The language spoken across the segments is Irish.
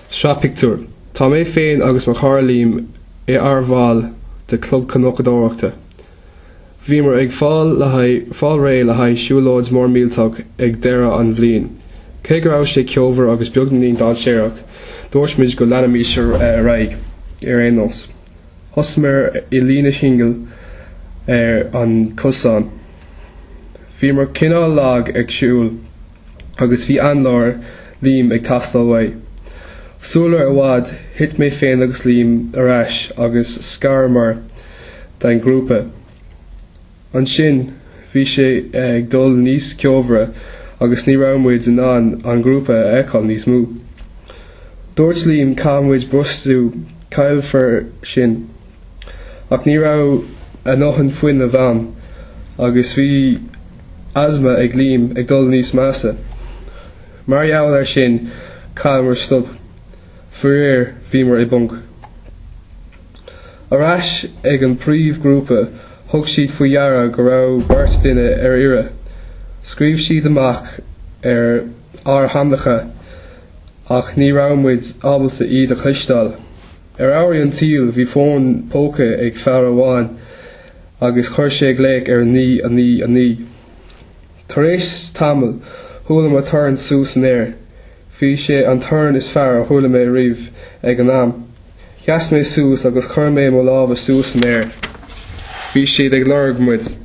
Sraith pictiúr. Tá mé féin agus mo chara Liam inár mbaill de Chlub Cnocadóireachta. Bhíomar ag fáil le haghaidh fáil réidh le haghaidh siúlóid mhór millteach ag deireadh an bhliain. Cé go raibh sé ceomhar agus beagáinín dainséarach, dúirt muid go leanfaimís ar aghaidh ar aon nós. Thosaíomar i líne shingil ar an gcosán. Bhíomar cineál lag ag siúl. agus bhí análóir Liam ag teastáil uaidh. Sula i bhfad thit mé féin agus Liam ar ais agus scaramar ón ngrúpa. Ansin bhí sé ag dul níos ceomhara agus ní raibh muid in ann an grúpa a fheiceáil níos mó. Dúirt Liam caithfidh muid brostú nó caillfear sinn. Ach ní raibh ár ndóthain fuinnimh againn agus bhí asma ag Liam ag dul níos measa. Mar gheall air sin, chaitheamar stopadh. Faraor, bhíomar i bponc. Ar ais ag an bpríomhghrúpa, thug siad faoi deara go raibh beirt duine ar iarraidh. Scread siad amach ár n-ainmneacha ach ní raibh muid ábalta iad a chloisteáil. Ar ámharaí an tsaoil bhí fón póca ag fear amháin agus chuir sé glaoch ar 999. Tar éis tamaill chuala mé torann suas san aer. Bhí sé an torann is fearr a chuala mé riamh ag an am. Sheas mé suas agus chuir mé mo lámha suas san aer. Bhí siad ag lorg muid.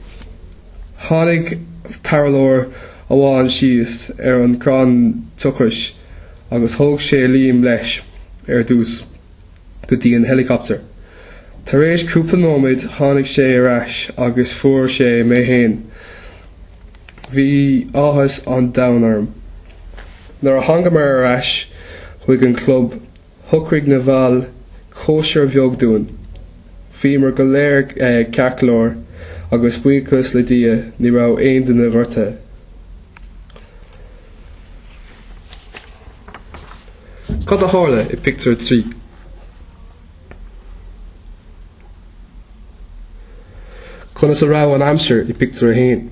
Tháinig tarrthálaí amháin síos ar an gcrann tochrais. agus thóg sé Liam leis, ar dtús, go dtí an héileacaptar. Tar éis cúpla nóiméad tháinig sé ar ais agus fuair sé mé fhéin. Bhí áthas an domhain orm. Nuair a thángamar ar ais chuig an club, Shocraigh na baill cóisir bheag dúinn. Bhíomar go léir ceart go leor agus buíochas le Dia ní raibh aon duine gortaithe. Cad a tharla i bpictiúr 3? Conas a raibh an aimsir i bpictiúr 1?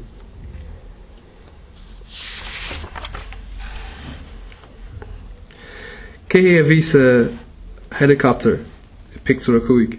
Cé a bhí sa helicopter i bpictiúr 5?